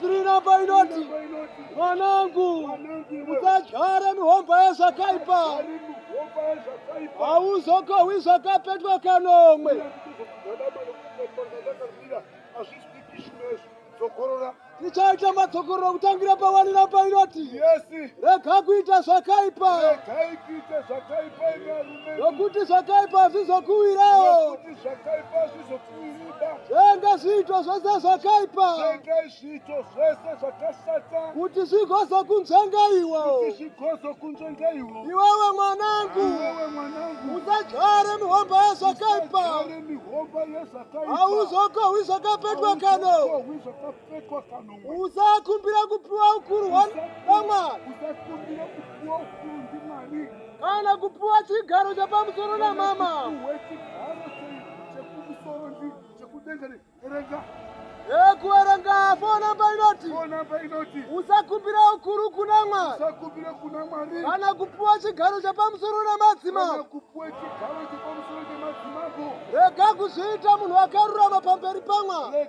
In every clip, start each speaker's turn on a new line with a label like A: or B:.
A: Tirinamba inoti mwanangu, usadyare mihomba yezvakaipa, hauzokohwi zvakapetwa kanomwe. Tichaita madzokororo kutangira pawani namba inoti rega kuita zvakaipa, nokuti zvakaipa hazvizokuwirawo. Zvenga zviito zvese zvakaipa. Zvenga zviito zvese zvakashata. Kuti zvigozo kunzvenga iwo. Kuti zvigozo kunzvenga iwo. Iwewe mwanangu. Iwewe mwanangu. Usadzvare mihomba yezvakaipa. Usadzvare mihomba yezvakaipa. Hauzokohwi zvakapetwa kano. Hauzokohwi zvakapetwa. usakumbira kupiwa ukuru hwamwari kana kupiwa chigaro chapamusoro namama ekuerenga fonamba inoti usakumbira ukuru kuna mwari kana kupiwa chigaro chapamusoro namadzimambo rega kuzviita munhu akarurama pamberi pamwari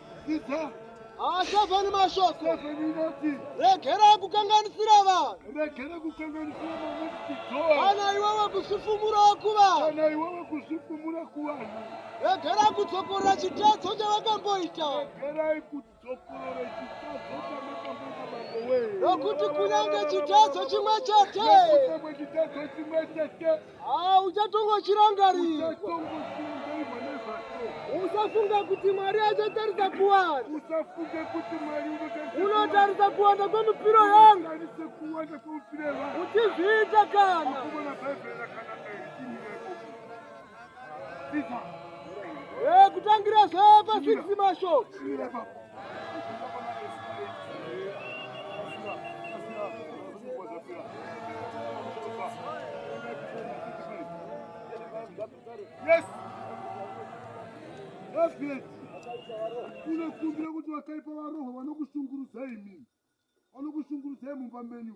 A: Asava nemashoko regera kukanganisira vanhukana iwewe kuzvifumura kuvanhu regera kudzokorora chitadzo chavakamboita nokuti kunyange chitadzo chimwe chete Ah, uchatongo chirangari. Usafunga kuti Mwari achatarisa kuwanda. Usafunga kuti Mwari unotarisa. Unotarisa kuwanda kwemupiro yangu. Unotarisa kuwanda kwemupiro yangu. Uchizviita kana. Akubona Bhaibheri rakanaka iri Hey, eh, kutangira zve pa 6 mashoko. Yes. Yes, unokumbira kuti vakaipa varohwa vanokushungurudzai mimi vanokushungurudzai mumba menyu